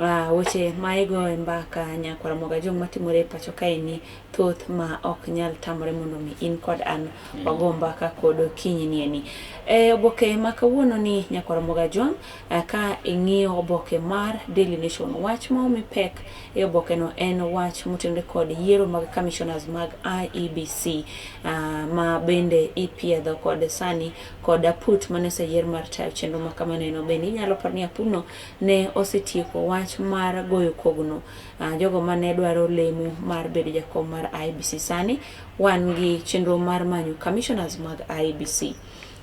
Ah, weche ma igo e mbaka nyakwara moga jong matimore e pacho kaeni thoth ma ok nyal tamore mondo mi in kod an wago mbaka kod okinyi nieni e oboke ma kawuono ni nyakwara moga jong eh, ka ing'iyo oboke mar Daily Nation wach ma omi pek e oboke no en wach motenore kod yiero mag commissioners mag IEBC ah, ma bende ipiedho kod sani kod aput mane oseyier mar tayo chenro ma kamano eno bende inyalo paro ni aputno ne osetieko wach mar goyo kogno. Uh, jogo mane dwaro lemo mar bedo jakom mar IBC sani wan gi chenro mar manyo commissioners mag IBC.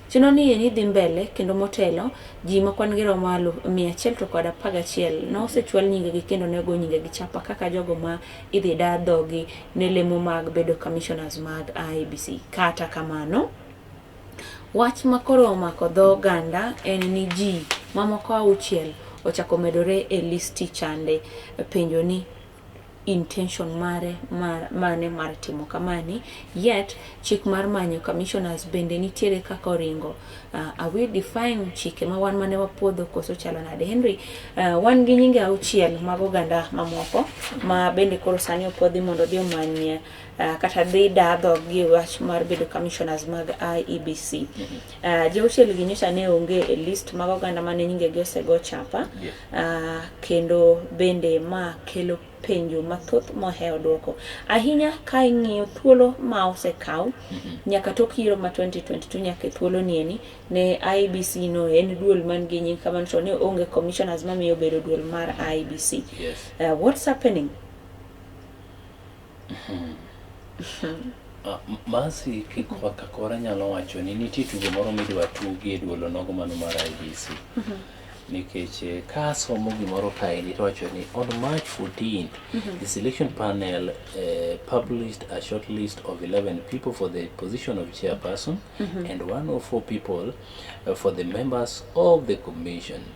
Chenro ni ni dhi mbele kendo motelo ji ma kwan gi romo alu mia achiel to kod apar gachiel ne osechwal nyingegi kendo ne ogo nyingegi chapa kaka jogo ma idhi dar dhogi ne lemo mag bedo commissioners mag IBC. Kata kamano, Wach ma koro omako dho oganda en ni ji mamoko auchiel ochako medore e listi chande penjo ni intention mare mane mar timo kamani yet chik mar manyo commissioners bende nitiere kaka oringo uh, are we defying chike ma wan mane wapuodho koso chalo nade Henry uh, wan gi nyinge auchiel mag oganda mamoko ma bende koro sani opuodhi mondo odhi omany uh, kata dhi dadho gi wach mar bedo commissioners mag IEBC. Mm -hmm. uh, Jauchiel gi nyocha ne onge e list mag oganda mane nyingegi osego chapa yeah. uh, kendo bende ma kelo penjo mathoth mohewo dwoko ahinya ka ing'iyo thuolo ma osekaw mm -hmm. nyaka tok yiero ma 2022 nyaka e thuolo nieni ne IBC no en duol man gi nying kamano to ne onge commissioners mamiyo bedo duol mar IBC yes. uh, what's happening Ah, M- Mercy Kikwa Kakora nyalo wacho ni nitie tugo moro midwa tugi e duolo nogo mano mar IBC. Nikech eh, ka asomo gimoro kaendi to wacho ni on March 14, the selection panel eh, published a short list of 11 people for the position of chairperson and 104 people eh, for the members of the commission.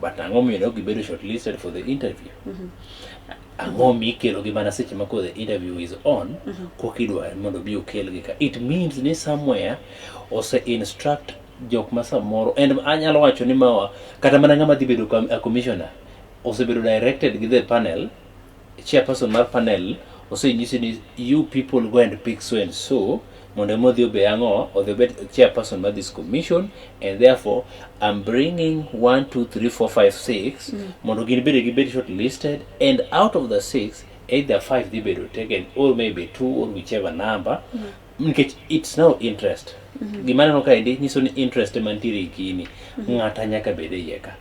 but ang'o momiyo ne ok gibedo shortlisted for the interview ang'o mikelogi mana seche ma koro the interview is on kok idwar mondo obi okelgi ka it means ni somewhere ose instruct jok ma samoro and anyalo wacho ni mawa kata mana ng'ama dhi bedo com- a commissioner osebedo directed gi the panel Chairperson mar panel osenyisi ni you people go and pick so and so mondo ema odhi obe ang'o odhi obed chairperson mar this commission and therefore I'm bringing 1 2 3 4 5 6 mm. mondo gin bende gibed short listed and out of the six either five dhi bedo taken or maybe two or whichever number mm. nikech it's no interest mhm. gima neno kaendi nyiso ni interest mantiere kini mhm. ng'ata nyaka bed e ka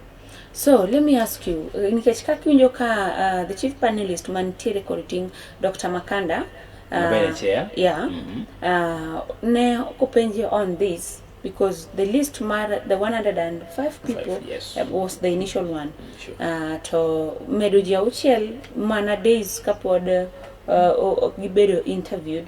So let me ask you, eh, nikech kaka iwinjo ka uh, the chief panelist mantiere kod ting' Dr. Makanda uh, chair. Yeah, mm -hmm. uh, ne openje on this because the list mar the 105 people Five, yes. uh, was the initial one sure. uh, to medo ji auchiel mana days kapod uh, uh, gibedo interviewed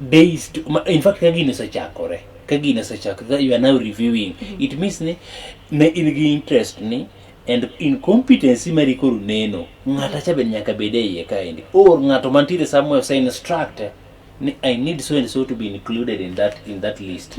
days to, ma- in fact ka gini osechakore ka gini osechakore that you are now reviewing it means ni ne in gi interest ni and incompetency mari koro neno ng'ata cha be nyaka bed e iye kaendi or ng'ato mantiere somewhere ose instruct ni i need so and so to be included in that in that list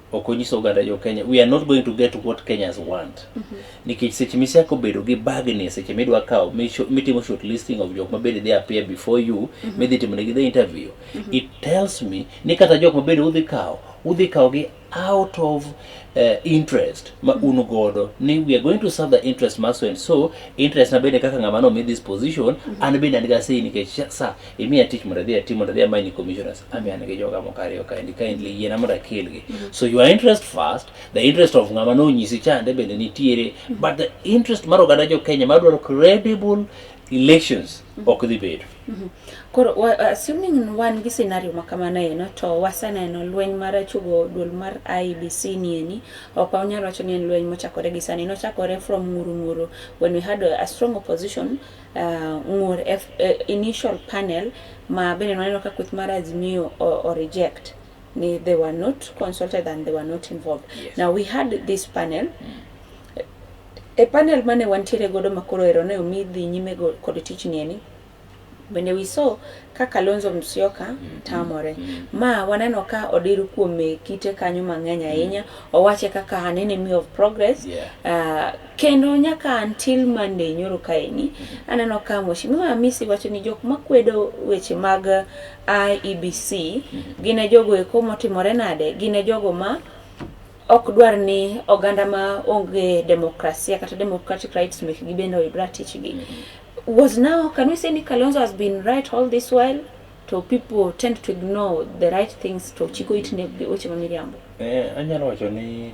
ok onyiso oganda jo Kenya we are not going to get what Kenyans want mm -hmm. nikech seche miseko bedo gi bagni seche midwa kawo mitimo short listing of jok mabende they appear before you mm -hmm. midhi timo negi the interview mm -hmm. it tells me ni kata jok mabende udhi kawo udhi kawo gi out of uh, interest ma mhm. un godo ni we are going to serve the interest ma so and so interest na bende kaka ng'ama no mi this position mm -hmm. an bende an ga sei nikech sa imiya tich mondo adhi atim mondo adhi amany ni commissioners ami an gi joga moko ariyo kaendi kindly yiena mondo akelgi so your interest first the interest of ng'ama nonyisi chande bende nitiere but the interest mar oganda jo kenya mar dwaro credible elections ok dhi bedo Koro wa- assuming wan gi scenario ma kamano eno to waseneno lweny mar achugo duol mar IBC nieni ok wanyal wacho ni en lweny mochakore gi sani nochakore from nguru nguru when we had a, a strong opposition uh, ng'ur F, uh, initial panel ma bende nwaneno ka kweth mar Azimio o, o reject ni they were not consulted and they were not involved yes. now we had this panel mm. e panel mane wantiere godo makoro ero ne omi dhi nyime kod tich nieni bende we saw ka Kalonzo Musyoka mm-hmm. tamore mm-hmm. ma waneno ka odir kuome kite kanyo mang'eny ahinya mm-hmm. owache kaka an enemy of progress yeah. uh, Kendo nyaka until Monday nyoro kaeni, aneno ka Mheshimiwa Amisi wacho ni jok makwedo weche mag IEBC gine jogo eko motimore nade, gine jogo ma ok dwar ni oganda ma onge demokrasia kata democratic rights mekgi bende oyud ratichgi. Was now, can we say ni Kalonzo has been right all this while? to people tend to ignore the right things to chiko it ne weche ma miriambo. Eh, anyalo wacho ni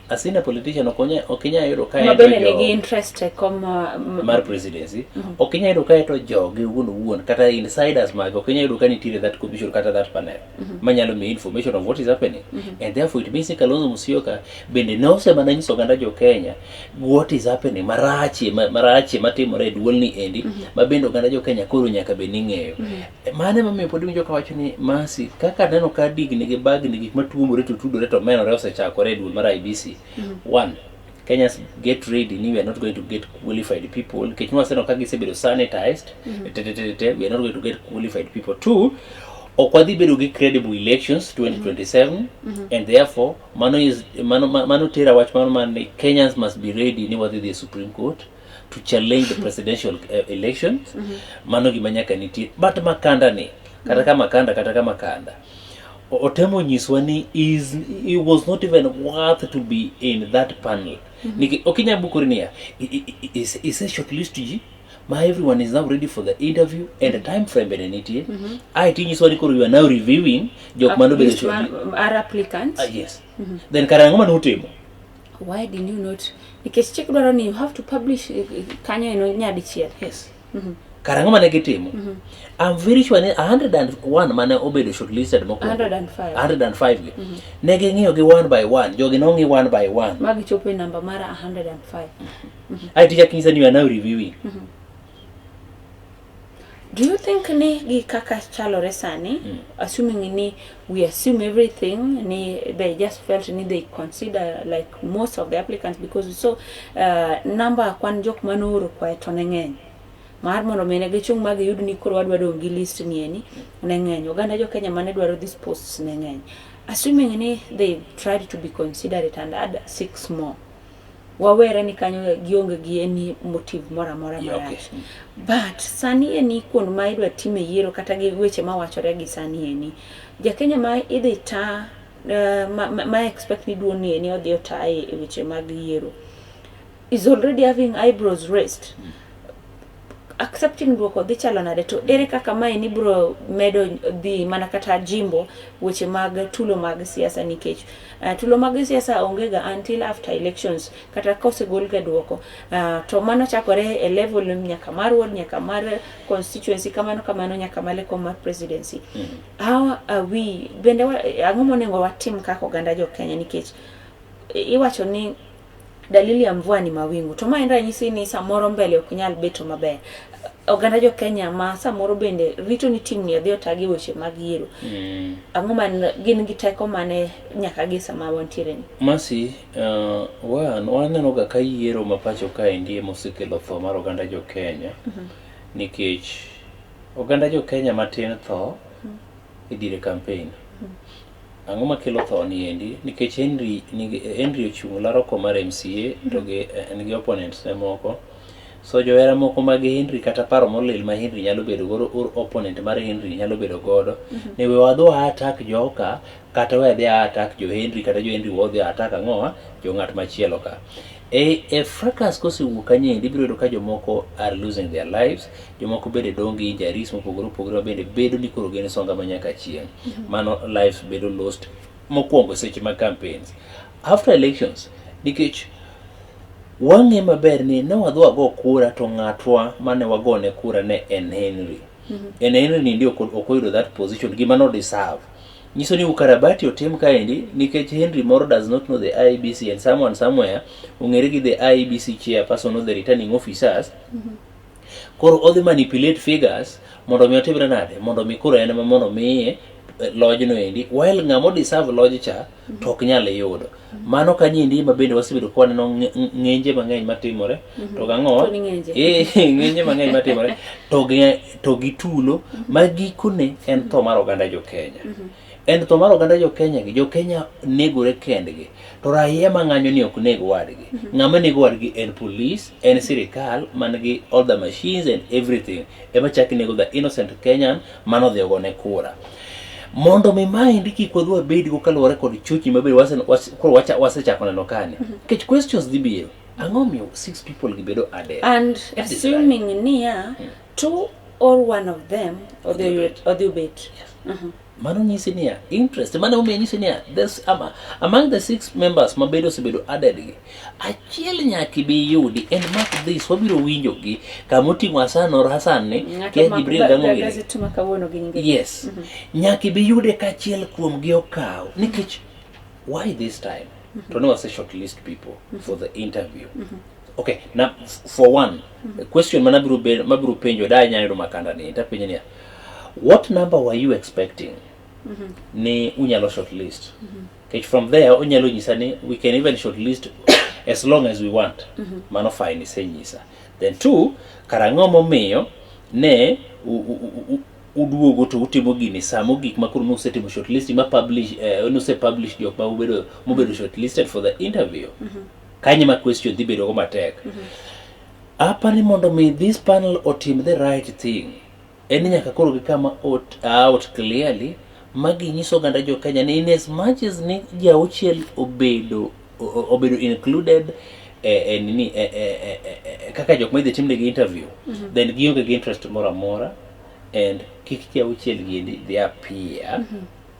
asina politician ok onya- ok inyal yudo ka ma en to bende jo- nigi interest e kom uh, m- mar presidency ok inyal yudo kae to joge wuon owuon kata insiders mage ok inyal yudo ka nitiere that commission kata that panel manyalo miyi information of what is happening and therefore it means ni Kalonzo Musyoka bende ne osemana nyiso oganda jo Kenya what is happening marachie ma- marachie matimore e duolni endi ma bende oganda jo Kenya koro nyaka bed ni ng'eyo E, mano emomiyo pod winjo kawacho ni masi kaka neno ka digni gi bagni gik matuomore to tudore to menore osechakore e duol mar ibc mm-hmm. one kenyans get ready ni we are not going to get qualified people nikech nwaseneno ka gisebedo sanitized mm-hmm. tetetete we are not going to get qualified people two ok wadhi bedo gi credible elections 2027 mm -hmm. and therefore mano, is, mano, mano tera wach mano mani kenyans must be ready ni wadhi dhi e supreme court to challenge the presidential uh, elections mm -hmm. mano gima nyaka nitie but makanda ni kata ka makanda kata ka makanda otemo nyiswa ni is he was not even worth to be in that panel mm -hmm. niki okinya bukuri niya is is a short list ji ma everyone is now ready for the interview and the time frame bene nitie mm -hmm. ai tinyiswa ni koro you are now reviewing jok mano bene are applicants uh, yes mm -hmm. then karangoma ni utimo why did you not nikech chik dwaro ni you have to publish eh, eh, kanyo eno nyadichiel yes Mhm. kara ang'o mane gitimo am very sure ni 101 mane obedo shortlisted mokwongo 105 105 gi ne ging'iyo gi one by one jogi nong'i one by one ma gichopo e namba mara 105 ae ticha kinyisa ni you are now reviewing Do you think ni gi kaka chalore sani mm. assuming ni we assume everything ni they just felt ni they consider like most of the applicants because so uh, number kwan jok manooro kwae to ne ng'eny mar mondo mine gichung' ma giyud ni koro wadwa dong' gi list ni eni ne ng'eny oganda jo Kenya mane dwaro these posts ne ng'eny assuming ni they tried to be considerate and add six more wawere ni kanyo gionge gi any motive moro amora Yeah, okay. marach but sani eni kuond ma idwa time yiero kata gi weche mawachore gi sani eni jakenya ma idhi ta eh, ma, ma, ma expect ni duon ni eni odhi ota e e weche mag yiero is already having eyebrows raised accepting duoko dhi chalo nade to ere kaka mae ni bro medo dhi mana kata jimbo weche mag tulo mag siasa nikech uh, tulo mag siasa onge ga until after elections kata kosegol ga duoko uh, to mano chakore e level nyaka mar ward nyaka mar constituency kamano kamano nyaka male kom mar presidency mm -hmm. how are we bende ang'o monego watim kaka oganda jo Kenya nikech iwacho ni Dalili ya mvua ni mawingu. To ma en ranyisi ni samoro mbele ok nyal beto maber. Oganda jo Kenya ma samoro bende rito ni tim ni adhi otagi weche mag yiero. Mm. Ang'o man gin gi teko mane nyaka gi sama wantiere ni? Masi, uh, wan, waneno ga ka yiero ma pacho ka endi ema osekelo tho mar oganda jo Kenya. Mm -hmm. Nikech oganda jo Kenya matin tho mm -hmm. e dire campaign. Mm -hmm. Ang'o makelo tho ni endi? Nikech Henry, Henry ochung' laro kom mar MCA to gi en gi opponents ne moko. So johera moko mag Henry kata paro molil ma Henry nyalo bedo godo or opponent mar Henry nyalo bedo godo mm -hmm. ni we wadhi wa attack joka kata we adhi attack jo Henry kata jo Henry wadhi attack ang'owa jo ng'at machielo ka. E, e fracas kosewuok kanyendi ibiro yudo ka jomoko are losing their lives, jomoko bende dong' gi injuries mopogore opogore ma bende bedo ni koro gin songa ma nyaka chieng'. Mm-hmm. Mano lives bedo lost mokwongo seche mag campaigns. After elections, nikech wang'e maber ni ne wadhi wago kura to ng'atwa mane wagone kura ne en Henry. Mm-hmm. En Henry ni ndio ok oyudo that position gima no deserve. nyiso ni ukarabati otim kaendi nikech Henry Moro does not know the IEBC and someone somewhere ong'ere gi the IEBC chairperson of the returning officers koro odhi manipulate figures mondo mi otimre nade mondo mi koro en ema mondo miye eh, lojno endi while ng'ama odeserve loj cha to ok nyal yudo mano ka nyindi ma bende wasebedo ka waneno ng'enje mang'eny matimore mhm. to gang'o eh, ng'enje mang'eny matimore to gi tulo mhm. ma gikone en tho mar oganda jo Kenya mhm. en tho mar oganda jo Kenya gi jo Kenya negore kendgi to raia mang'anyo ni ok neg wadgi ng'ama nego wadgi en police en sirikal man gi all the machines and everything ema chak nego the innocent Kenyan mano dhi ogone kura mondo mi maendi kik wadhi wabedgo kaluwore kod chochni mabedo koro wasechako neno kani mhm. nikech questions dhi biro ang'o miyo six people gibedo adek and assuming niya hmm. two or one of them odhi obet mhm. mano nyisi niya interest mano omiyo nyisi niya among the six members mabedo osebedo added gi Achiel nyaka ibi iyudi en mark this wabiro winjo gi kama oting'o Hassan or Hassan ni kia Jibril dango ngire. Yes. Mm -hmm. Nyaka ibi yude ka achiel kuom gi okaw nikech why this time? Mm -hmm. To no say short list people mm -hmm. for the interview. Mm -hmm. Okay, now for one mm -hmm. question manabiro mabiro penjo da nyayo do makanda ni tapenjo ni what number were you expecting? Mm -hmm. Ni unyalo short list. Mm -hmm. Kech from there onyalo nyisa ni we can even short list as long as we want. Mm -hmm. Mano fine isenyisa. Then two, karang'o momiyo ne uduogo to utimo gini samo gik ma koro nusetimo short list ma publish eh, nuse publish jok ma ubedo mubedo short listed for the interview. Mm -hmm. Kanye ma question dhi bedo go matek. Mm -hmm. Apani mondo mi this panel otim the right thing. En ni nyaka koro gikama out, out clearly ma ginyiso oganda jo Kenya ni in as much as ni ji auchiel obedo o- obedo included eh, eh, nini eh, eh, eh, eh, eh, kaka jok ma idhi timnegi interview then gionge gi interest moro amora and kik ji auchiel giendi dhi appear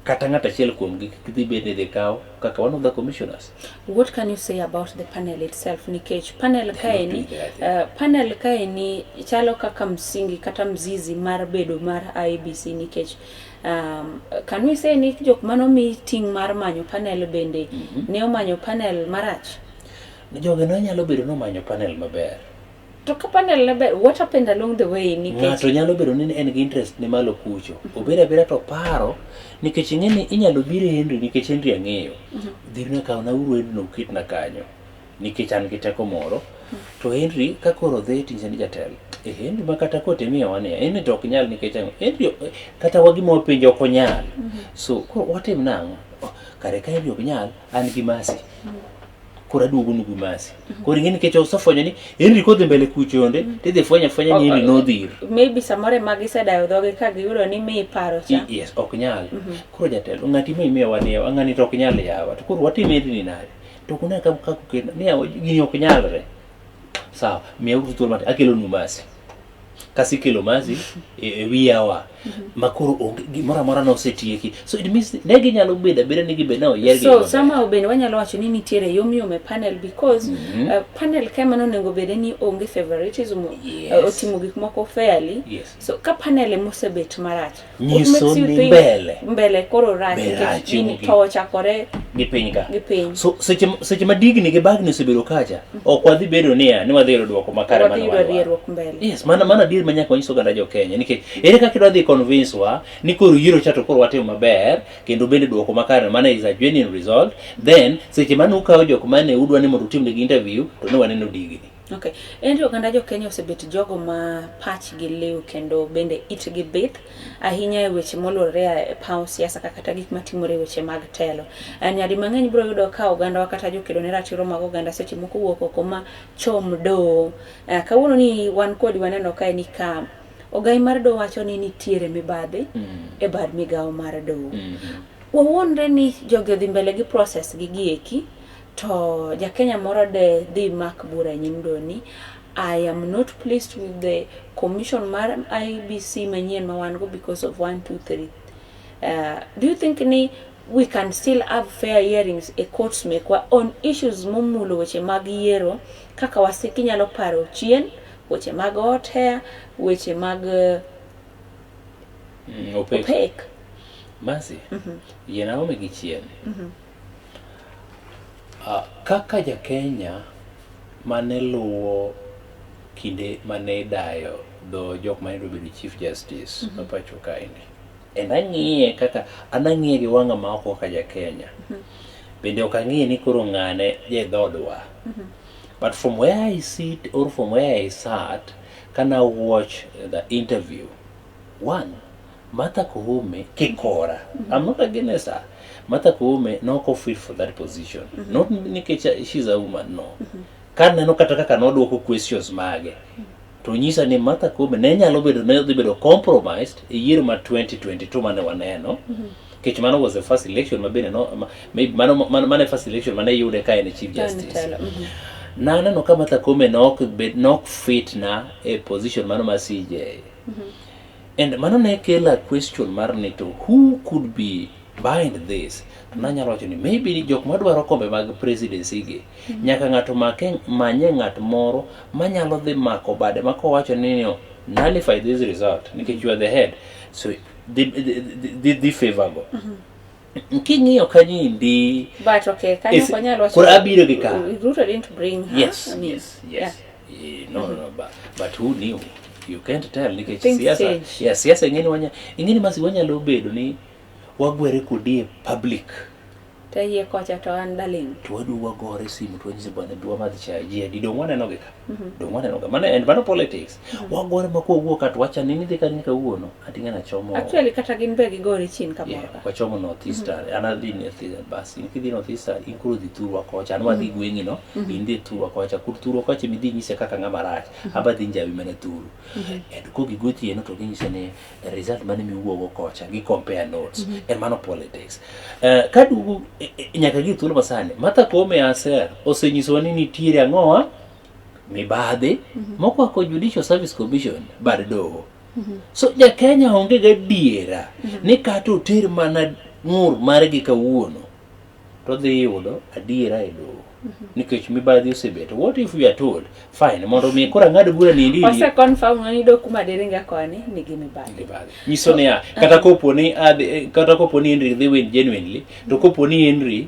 kata ng'at achiel kuomgi kik dhi bed ni dhi kawo kaka one of the commissioners. What can you say about the panel itself nikech panel kaeni uh, panel kaeni chalo kaka msingi kata mzizi mar bedo mar IBC nikech um, can we say ni jok mano mi ting mar manyo panel bende mm -hmm. ne omanyo panel marach? Jogi ne nyalo bedo ni omanyo panel maber To ka panel ne ber, what happened along the way nikech ng'ato nyalo bedo ni en gi interest ni malo kucho obedo abeda to paro nikech ing'e ni inyalo biro e Henry nikech Henry ang'eyo dhirna kaw na uru Henry no uketna kanyo nikech an gi teko moro to Henry ka koro dhi tinje ni jatelo e Henry ma kata kote miya wane Henry to ok nyal nikech ang'o Henry eh, kata wagi ma wapenjo ok onyal so koro watim nang'o Oh, kare ka Henry ok nyal an gi masi koro aduogo nugu masi mhm. koro ing'e nikech osefwenyo ni Henry kodhi mbele kuchonde mhm. tidhi fwenya fwenya ni Henry nodhir maybe samoro ema gisedayo dhoge ka giyudo ni mi paro cha yes ok nyal mhm. koro jatelo ng'ati ma imiyo waniyo ang'ani to ok nyal yawa to koro watim Henry ni nade to kuna ka ka kukena ni gini ok nyalre sawa miya uru thuolo mati akelo nu masi kasi kelo masi e e wi yawa ma koro onge- gimoro amora nosetieki so it means ne ginyalo bedo abeda ni gibed na oyier gi so maber. somehow bende wanyalo wacho ni nitiere yomyom e panel because Mhm. uh, panel ka mano onego bede ni onge favoritism Yes. uh, otimo gik moko fairly Yes. so ka panel emosebet marach nyiso ni mbele mbele koro rach nikech gini towo chakore gi piny ka gi piny so seche seche ma digni gi bagni osebedo kacha ok wadhi bedo niya ni wadhi yudo dwoko makare mana wadhi yudo dwoko mbele yes mana mana dir ma nyaka wanyiso ganda jo Kenya nikech ere kaka idwa dhi convince wa ni koro yiro cha to koro watimo maber kendo bende dwoko makare mana is a genuine result then seche mane ukawo jok mane udwa ni mondo utimnegi interview to ne waneno digni Okay. En to oganda jo Kenya osebet jogo ma pachgi liw kendo bende itgi bith ahinya e weche molure e paw siasa kata gik matimore e weche mag telo. Eh, nyadi mang'eny biro yudo ka oganda kata jokedo ne ratiro mag oganda seche moko wuok oko ma chom do. Eh, kawuono ni wan kod waneno kae ni ka ogai mar do wacho ni nitiere mibadhi mm -hmm. e bad migawo mar do. Mm -hmm. Wawuondre ni jogi odhi mbele gi process gi gieki To Jakenya moro de dhi mak bura e nyim doni. I am not pleased with the commission mar IBC manyien ma wan go because of 1 2 3. Uh, do you think ni we can still have fair hearings e courts mekwa on issues momulo weche mag yiero kaka wasiki nyalo paro chien weche mag hot hair weche mag uh, mm, opek, opek. Masi, mm -hmm. yena ome gi chien mm -hmm. Kaka ja Kenya mane luwo kinde mane idayo dho jok mane dwa bedo Chief Justice ma pacho kae ni, en ang'iye kaka, an ang'iye gi wang'a ma oko kaka ja Kenya. Bende ok ang'iye ni koro ng'ane ja e dhoodwa. But from where I sit or from where I sat, kane a watch the interview, one, Martha Koome kikora. I'm not against her. Martha Koome ne ok ofit for that position. Not nikech uh, she's a woman, no. Ka neno kata kaka nodwoko questions mage, to nyisa ni Martha Koome ne nyalo bedo ne dhi bedo compromised e yiero ma 2022 mane waneno. Nikech mano was the first election ma bende no, ma, maybe mano, mano, mano e first election mane yude ka en e Chief Justice Telo. Mhm. naneno ka Martha Koome ne ok bed- ne ok fit na e position mano ma CJ And mano ne kela question mar ni to who could be behind this? To nanyalo wacho ni maybe ni jok madwaro kombe mag presidency gi, nyaka ng'ato make manye ng'at moro manyalo dhi mako bade ma kowacho ni no, nullify this result nikech you are the head. So dhi, dhi, dhi, dhi favor go. king'iyo kanyendi but okay kanyo Is- konyalo wacho- koro abiro gi ka. Ruto didn't bring her yes I mean, yes yeah. yes Eh, no no but, but who knew you can't tell nikech Things siasa change. yeah, siasa ingeni wanya ingeni masi wanyalo bedo ni wagwere kodi e public to yie kocha to an darling to wadu wagore simu to wanyise bwana dwa madhi chaji adi dong waneno gi ka Mhm. Dong waneno ga mano and mano politics. Mhm. Wagore ma kowuok at wacha nini dhi kanyo kawuono. Ati ngana chomo. Actually kata gin be gigore chin kamoro. Yeah, ka. wachomo North Mhm. Eastern. An adhi North Eastern bas. In kidhi North Eastern in koro dhi thurwa kocha. An wadhi gweng'i no. Mhm. In dhi thurwa kocha. Kur thurwa kocha midhi nyise kaka ng'ama rach. Aba dhi njawi mana thuru. Mhm. And kogi gotieno to ginyise ni result mane miwuogo kocha gi compare notes mm -hmm. en mano politics uh, eh, kadugu e, e, nyaka gi thuolo masani Martha Koome aser osenyisowa ni nitiere ang'owa mibadhi mm -hmm. mokwako Judicial Service Commission bad doho mm -hmm. so jakenya onge gadiera mm -hmm. ni kata oter mana ng'ur margi kawuono to odhi yudo adiera e doho mhm. nikech mibadhi osebedo what if we are told fine mondo mi koro ang'ad bura ni ndi ose confirm ni do kuma dere nga koni ni gi mibadhi mibadhi nyiso ni ah, uh-huh. kata kopo ni ah, eh, kata kopo ni Henry dhi win genuinely to mhm. kopo ni Henry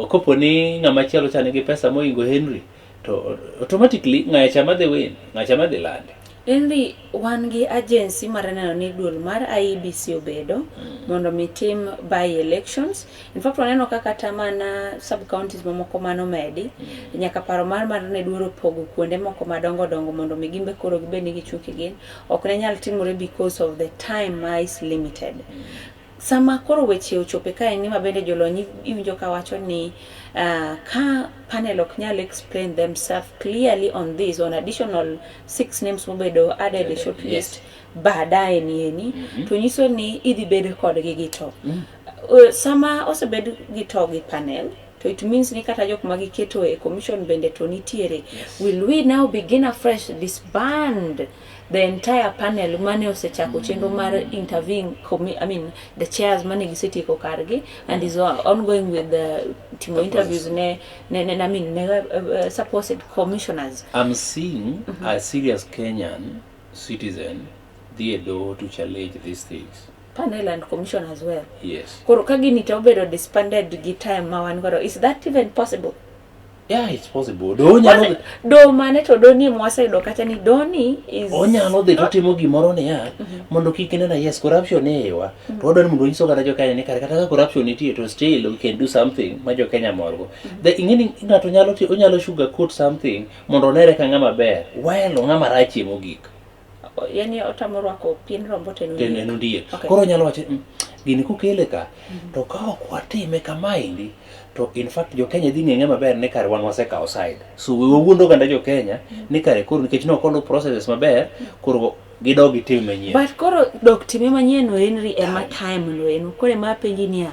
kopo ni ng'ama chielo chane gi pesa moingo Henry to automatically ng'acha madhi win ng'acha madhi lande Inri wan gi agency mar neno ni duol mar IEBC obedo mm. mondo mi tim by elections. In fact waneno ka kata mana sub counties mamoko mano medi mm. nyaka paro mar mar ne duoro pogo kuonde moko madongo dongo mondo mi gimbe koro gibed ni gichung' gin ok ne nyal timore because of the time ma is limited. Mm. Sama koro weche ochope ka en nima bende jolony iwinjo ka wacho ni uh, ka panel ok nyal explain themselves clearly on this on additional six names mobedo added a short list yes. baadaye ni eni mm -hmm. to nyiso ni idhi bedo kodgi gi to mm -hmm. uh, sama osebed gi to gi panel to it means ni kata jok ma giketo e commission bende to nitiere yes. will we now begin afresh disband the entire panel mane osechako chenro mar interviewing commi- I mean the chairs mane gisetieko kargi and is on- ongoing with the timo interviews ne ne ne I mean ne uh, uh, supposed commissioners I'm seeing a serious Kenyan citizen dhi e doho to challenge these things. panel and commission as well Yes. koro ka gini to obedo disbanded gi time ma wan godo is that even possible Yeah, it's possible. Do onyalo dhi- do mane to do ni mwaseyudo kata ni doni is onyalo dhi totimo gimoro niya mondo kik inena yes corruption ewa to wadwa ni mondo onyiso kata jokenya ni kare kata ka corruption nitie to still we can do something ma jokenya morgo the ing'eni ng'ato nyalo ti- onyalo sugar coat something mondo onere ka ng'ama ber while ng'ama rachie mogik yani otamo rwako pien rombo to en ondiek. en ondiek okay. koro nyalo wacho mm, gini kokele ka mm -hmm. to ka ok watime kamaendi to in fact jo Kenya dhi ng'e maber ni kare wan wasekawo side so we wawuondo oganda jo Kenya mm -hmm. ni kare koro nikech ne ok oluw processes maber mm -hmm. koro gidog gitim manyien but koro dok time manyien no en ri ema time no en kore ma penji niya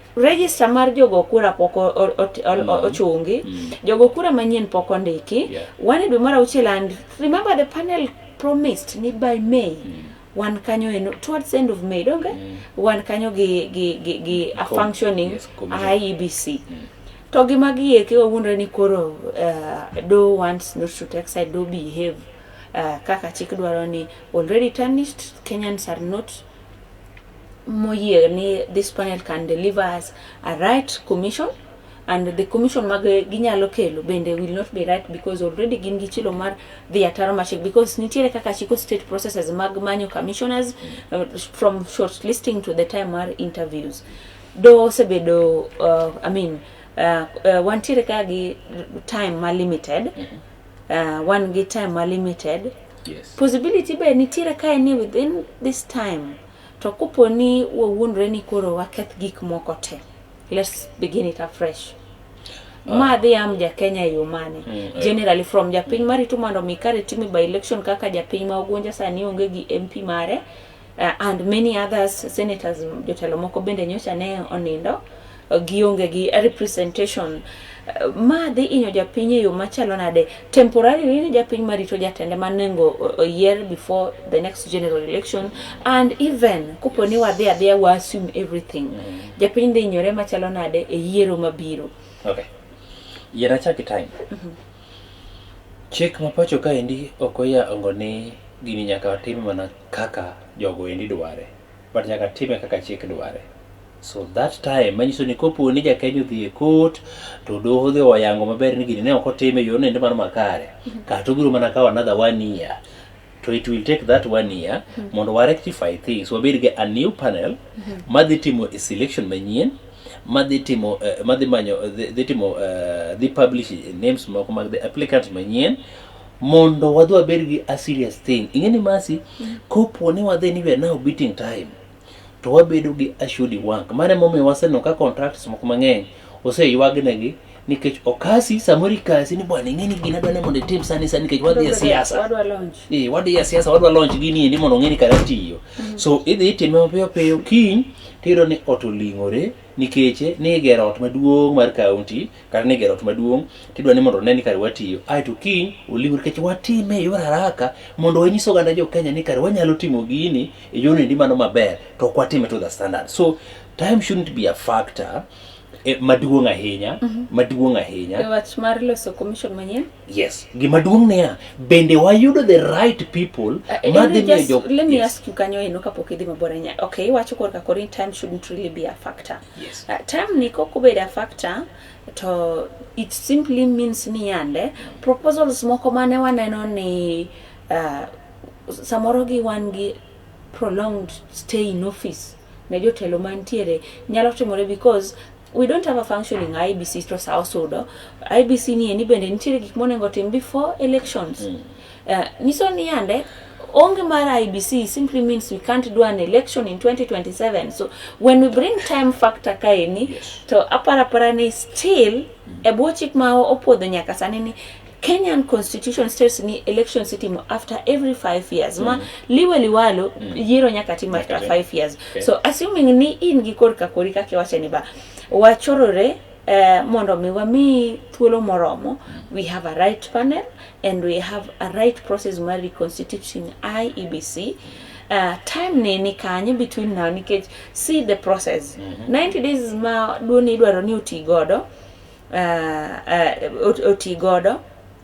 register mar jogo kura pok mm. ochungi mm. jogo kura manyien pok ondiki wan e dwe mar auchiel and remember the panel promised ni by may mm. wan kanyo eno towards end of may donge mm. wan kanyo gi, gi, gi, gi a functioning yes, IEBC mm. to gima gieki wawuondre ni koro uh, do wants not to take side do behave uh, kaka chik dwaro ni already tarnished Kenyans are not moyie ni this panel can deliver us a right commission and the commission mag ginyalo kelo bende will not be right because already gin gi chilo mar dhi ataro machik because nitiere kaka chiko state processes mag manyo commissioners uh, from short listing to the time mar interviews do osebedo uh, i mean uh, uh, wantiere ka gi time ma limited mm-hmm. uh, wan gi time ma limited Yes. Possibility be nitiere kae ni within this time to kopo ni wawuondre ni koro waketh gik moko te. Let's begin it afresh. Uh, ma dhi am ja Kenya e yo mane mm, eh. generally from japiny marito mondo mi kare time by election kaka japiny ma Ogunja sani onge gi MP mare Uh, and many others senators jotelo moko bende nyocha ne onindo uh, gionge gi representation uh, ma dhi inyo japiny e yo machalo nade temporarily ni japiny marito jatende manengo oyier before the next general election and even kopo ni wadhi adhiya wa assume everything mm. japiny dhi inyore machalo nade e yiero mabiro okay. yier achaki time mm -hmm. chik mapacho kaendi ok oya ongo ni gini nyaka watim mana kaka jogo endi dware but nyaka time kaka chik dware so that time manyiso ni kopo ni jakenya odhi e court to doho dhi oyango maber ni gini ne ok otime e yorno endi mar makare kata obiro mana kawo another one year to it will take that one year mondo wa rectify things wabed gi a new panel madhi timo a selection manyien madhi timo eh, madhi manyo eh, dhi- dhi timo eh, dhi publish names moko mag the applicant manyien mondo wadhi wabed gi a serious thing ing'e ni masi kopo ni wadhi ni we are now beating time to wabedo gi a shudi wank mano emomiyo waseneno ka contracts moko mang'eny oseywagnegi nikech okasi samoro ikasi ni bwana ing'e ni gina dwa ni mondo itim sani sani nikech wadhi e siasa Wadwa launch. Eh, wadhi e siasa wadwa launch gini endi mondo ong'e ni kara tiyo so idhi itime mapiyo piyo kiny tiyudo ni ot oling'ore nikeche ni igero ot maduong' mar kaunti kata ni gero ot maduong' tidwa ni mondo one ni kare watiyo aeto kiny oliw nikech watime e yor haraka mondo wanyis oganda jo Kenya ni kare wanyalo timo gini e yor endi mano maber to ok watime to the standard so time shouldn't be a factor eh, maduong' ahinya maduong' ahinya E wach mar loso commission manyien Yes. Gima duong' niya, bende wayudo the right people uh, ma dhi miyo jok. Let me yes. ask you kanyo eno kapok idhi mabor anya. Okay, iwacho kor ka korin time shouldn't really be a factor. Yes. Uh, time ni kok obed a factor to it simply means ni yande proposals moko mane waneno ni uh, samoro gi wan gi prolonged stay in office ne jotelo mantiere nyalo timore because we don't have a functioning IBC to sa osudo IBC ni eni bende nitiere gik monego tim before elections mm. uh, nyiso ni yande onge mar IBC simply means we can't do an election in 2027 so when we bring time factor kaeni yes. to aparapara ni still mm. e bwo chik ma opuodho nyaka sani ni Kenyan constitution states ni elections itimo after every five years mm. ma liwe liwalo mm. yiero nyaka tim after okay. five years okay. so assuming ni in gi korka kori kaka iwacho ni ba wachorore Uh, mondo mi wami thuolo moromo mm. we have a right panel and we have a right process mar reconstituting IEBC mm. uh, time ni ni kanye between now nikech see the process mm -hmm. 90 days ma duoni idwaro ni uti godo uh, uh, oti godo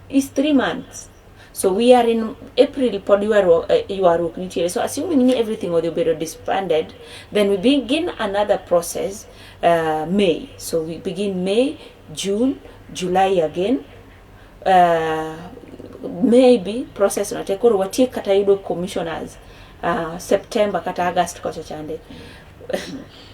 is three months so we are in april pod ywaruok uh, ywaruok nitiere so assuming ni everything odhi obedo disbanded then we begin another process uh, may so we begin may june july again uh, maybe process no te koro watiek kata yudo commissioners uh, september kata august kocha chande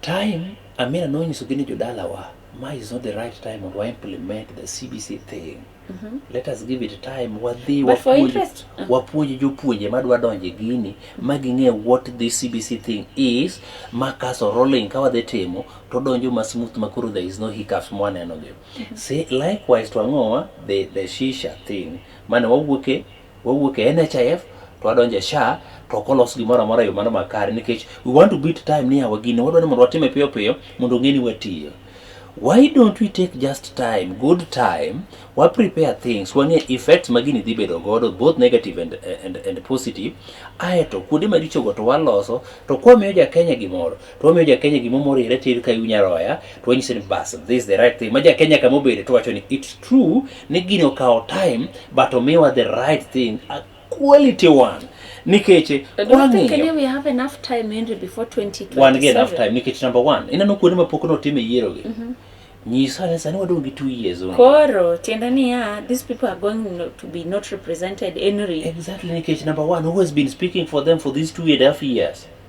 Time, Amina nonyisogi ni jodalawa, ma is not the right time mondo wa implement the CBC thing. Mm -hmm. Let us give it time wadhi wapuonj uh. wapuonj jopuonje madwa donje gini ma ging'e what the CBC thing is ma kaso rolling ka wadhi timo to donjo ma smooth ma koro there is no hiccups mwaneno gi. Mm -hmm. See likewise to ang'owa the the shisha thing mane wawuoke Wawuok e NHIF to wadonjo e SHA to ok olos gimoro amora e yo mano makare nikech we want to beat time ni yawa gini wadwa ni mondo watime piyo piyo mondo ong'e ni watiyo. Why don't we take just time, good time, wa prepare things, wang'e effects ma gini dhi bedo godo both negative and, and, and positive, aeto kuonde marichogo to waloso to kwamiyo ja Kenya gimoro to wamiyo ja Kenya gimoro morire tir ka iw nyaroya Tuonyiseni bas, this is the right thing. Maja Kenya kama obede to wacho ni it's true ni gino kawo time but omiwa the right thing, a quality one nikech eh, wan gi enough time nikech number one ineno kuonde ma pok notim e yierogi mm -hmm. nyisa ni sani wadong' gi two years only. Koro tiende niya these people are going to be not represented anyway. Exactly nikech number one who has been speaking for them for these two and a half years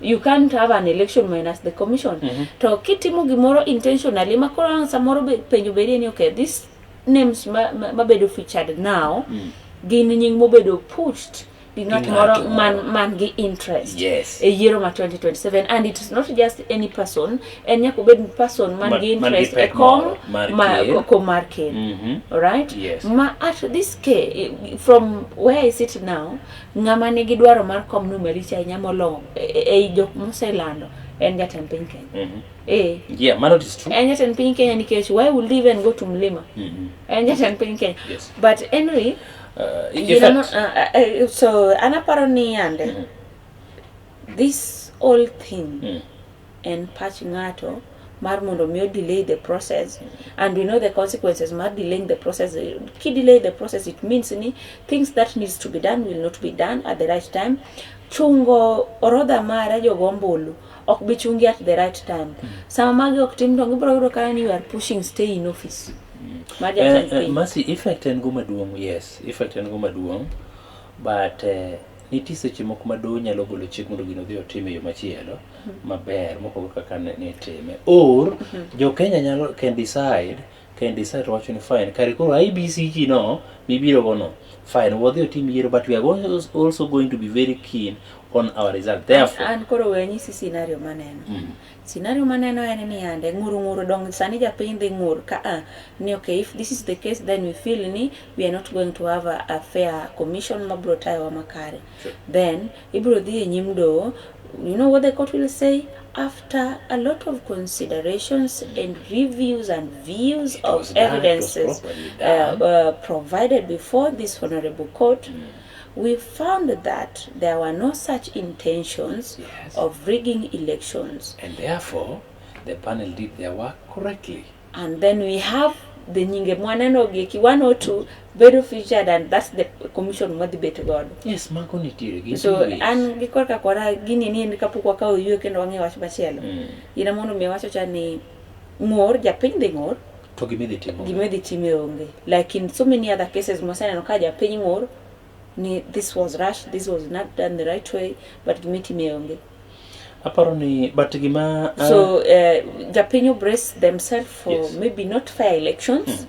you can't have an election minus the commission mm -hmm. to kitimo gimoro intentionally ma koro ang' samoro be, penjo bedie ni okay this names mabedo ma, ma featured now mm. gin nying mobedo pushed gi ng'at moro man, man gi interest yes. e yiero ma 2027 and it's not just any person en nyaka obed person man ma, gi interest e kom ko mar ken mm -hmm. right yes. ma at this case from where i sit now Ng'ama nigi dwaro mar kom no maricho ahinya molong'o e- e- ei jok moselando en jatend piny Kenya. Mhm. Eh, Yeah, mano it is true. en jatend piny Kenya nikech why would they even go to Mlima? Mhm. En jatend piny Kenya. Yes. But anyway, Uh, in you know, fact, uh, uh, uh, so anaparo ni yande this whole thing mm, en pach ng'ato mar mondo mi o delay the process and we know the consequences mar delaying the process ki delay the process it means ni things that needs to be done will not be done at the right time chungo orodha mare jogo ombulu ok bi chungi at the right time sama magi ok tim to gibiro yudo kaya ni you are pushing stay in office mar Eh, jatend eh, piny Mercy, effect en go maduong' yes effect en go maduong' but eh, Nitie seche moko ma doho nyalo golo chik mondo gino odhi otim e yo machielo hmm. maber mopogore kaka ne itime. Or hmm. jo Kenya nyalo can decide can decide to wacho ni fine kare koro IBC ji no mibiro go no fine wadhi otim yiero but we are also going to be very keen on our result therefore an koro we nyisi scenario maneno mm. Scenario maneno en ni yande ng'ur ng'ur dong sani japiny dhi ng'ur ka a ni ok if this is the case then we feel ni we are not going to have a, a fair commission ma bro tayo wa makare sure. then ibro dhi e nyim do you know what the court will say after a lot of considerations and reviews and views of evidences uh, uh, provided before this honorable court mm. We found that there were no such intentions yes. of rigging elections. And therefore, the panel did their work correctly. And then we have the nyinge mwaneno gi ki 102 bedo featured and that's the commission mwadhi bet godo yes mago nitiere gi so an gi korka kora gini ni en kapok wakawo yue kendo wang'e wach machielo mm. ina mondo mi wacho cha ni ng'or japiny dhi ng'or to gima idhi timo gima idhi time onge like in so many other cases mwaseneno ka japiny ng'ur ni this was rush this was not done the right way but gima itime onge aparo ni but gima uh, so uh, japiny obrace themselves for yes. maybe not fair elections mm.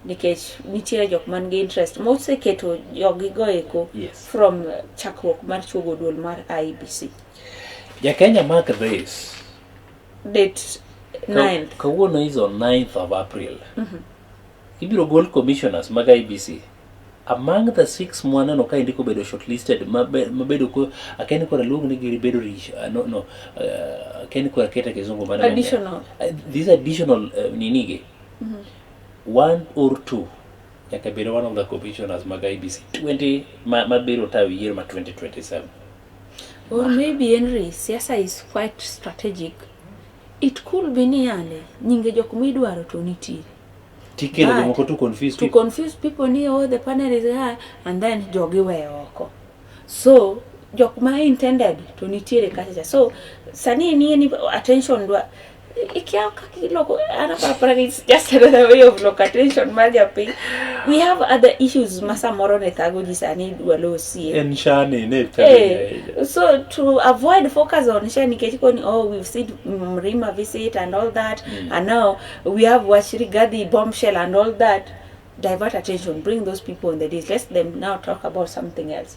nikech nitiere jok man gi interest moseketo jogigo eko yes. from uh, chakruok mar chuogo duol mar IBC. E Jakenya mark this date Ka- 9th kawuono is on 9th of april ibiro gol commissioners mag ibc among the six mwaneno ka indiko bedo shortlisted mabe- mabedo ko akeni kora luong ni giri bedo rich uh, no, no uh, akeni kora kete kizungu mane Additional. Uh, these additional uh, ninige one or two nyaka bedo one of the commissioners mag ibc 20 ma- mabiro tayo yiero ma 2027 Or maybe Henry, siasa is quite strategic. It could be ni yale, nyinge jok midwaro to nitiere. Tikelo jomoko to confuse people. To confuse people ni oh the panel is high and then jogi we oko. So jok ma intended to nitiere kacha. So sani ni ni attention dwa ikiao kakiloko ana parapara ni it's just another way of local attention mar japiny we have other issues ma samoro ne thago ji sani idwa losie en shani ne Eh, so to avoid focus on sha nikech koni oh we've seen mrima visit and all that Mm. and now we have wachiri gadhi bombshell and all that divert attention bring those people on the days let them now talk about something else